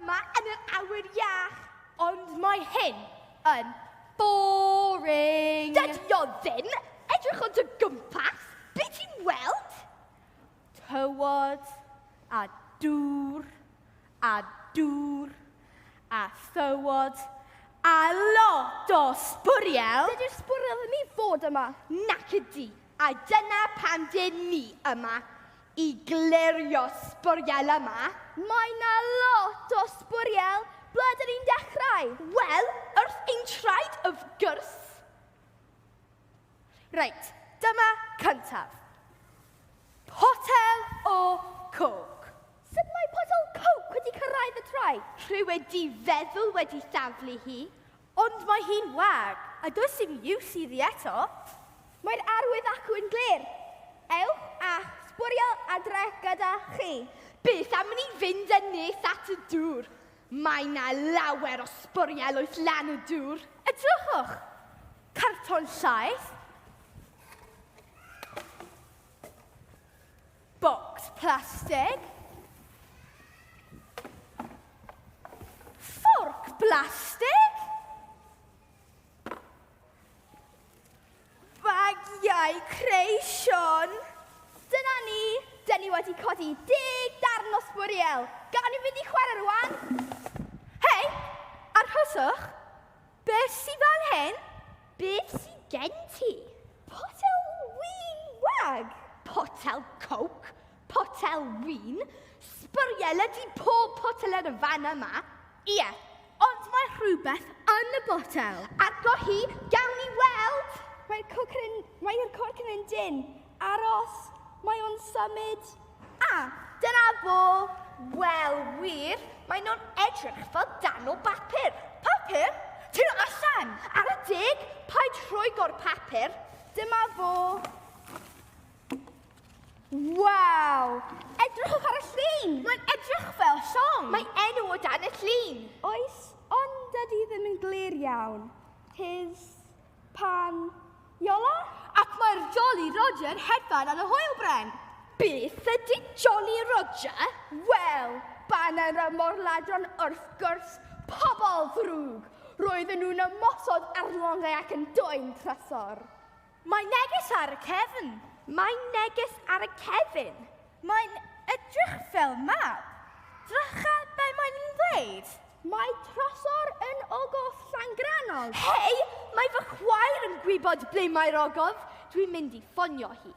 Yma yn yr awyr iach, ond mae hyn yn boring. Dydy o ddim! Edrych ond o gwmpas, be ti'n weld? Tywod, a dŵr, a dŵr, a thywod, a lot o sbwriel. Dydy'r sbwriel ddim i fod yma. Nac ydy. A dyna pam dyn ni yma, i glirio sbwriel yma. Mae 'na lot o sbwriel, ble dyn ni'n dechrau? Wel, wrth ein traed wrth gwrs. Reit, dyma cyntaf. Potel o coke. Sut mae potel coke wedi cyrraedd y traed? Rhyw wedi feddwl wedi thaflu hi. Ond mae hi'n wag, a does dim iws iddi eto. Mae'r arwydd acw yn glir. Ewch a'ch sbwriel adre gyda chi. Beth am i ni fynd yn nes at y dŵr? Mae 'na lawer o sbwriel oes lan y dŵr. Edrychwch! Carton llaeth. Bocs plastig. Fforc blastig. Bagiau creision. Dyna ni, dyn ni wedi codi deg darn o sbwriel. Gawn ni fynd i chwarae rwan? Hei, arhoswch. Be sy fan hyn? Beth sy gen ti? Potel win wag! Potel coke, potel win, sbwriel ydi pob potel ar y fan yma. Ie, ond mae rhywbeth yn y botel. Agor hi, gawn ni weld! Mae'r corc yn un dyn. Aros, mae o'n symud. A, dyna fo! Wel, wir, mae nhw'n edrych fel darn o bapur. Papur? Tyn nhw allan! Ar y deg, paid rhoigo'r papur. Dyma fo. Waw! Edrychwch ar y llun! Mae'n edrych fel llong! Mae enw o dan y llun! Oes, ond dydy ddim yn glir iawn. His... Pan Iola? Ac mae'r Jolly Roger hedfan ar y hwyl bren. Beth ydy Jolly Roger? Wel, baned y morladron wrth gwrs, pobl ddrwg! Roedden nhw'n ymosod ar longau ac yn dwyn trysor. Mae neges ar y cefn! Mae neges ar y cefn! Mae'n edrych fel mab. Dracha, be mae'n i'n ddweud? Mae trasor yn ogof Llangrannog. Hei, mae fy chwaer yn gwybod ble mae'r ogof. Dwi'n mynd i ffonio hi.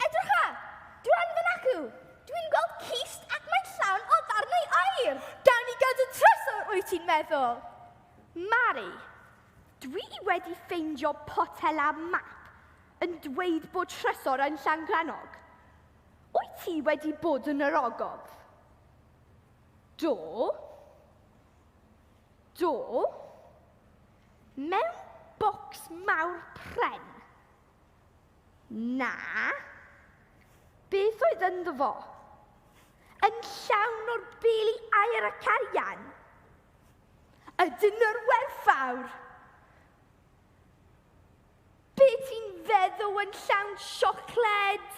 Edrycha! Dwan fy nacw! Dwi'n gweld cist ac mae'n llawn o ddarnau air! Gawn ni gadw trasor, wyt ti'n meddwl? Mari, dwi wedi ffeindio potel a map. yn dweud bod trysor yn Llangrannog. Wyt ti wedi bod yn yr ogof? Do. Do. Mewn bocs mawr pren. Na. Beth oedd ynddo fo? Yn llawn o'r beli air a carian. Y dynor werthfawr. Be ti'n feddw yn llawn siocled?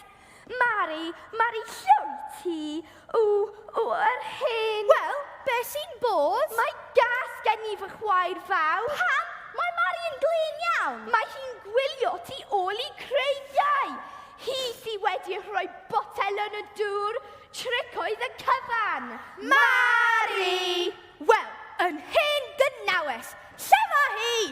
Mari, Mari llwy ti, w, w, yr hen... Wel, be sy'n bod? Mae gas gen i fy chwaer fawr. Pam? Mae Mari yn glên iawn. Mae hi'n gwylio ti ôl i creigiau. Hi sy wedi rhoi botel yn y dŵr, tric oedd y cyfan. Mari! Wel, yn hen gynawes, lle mae hi?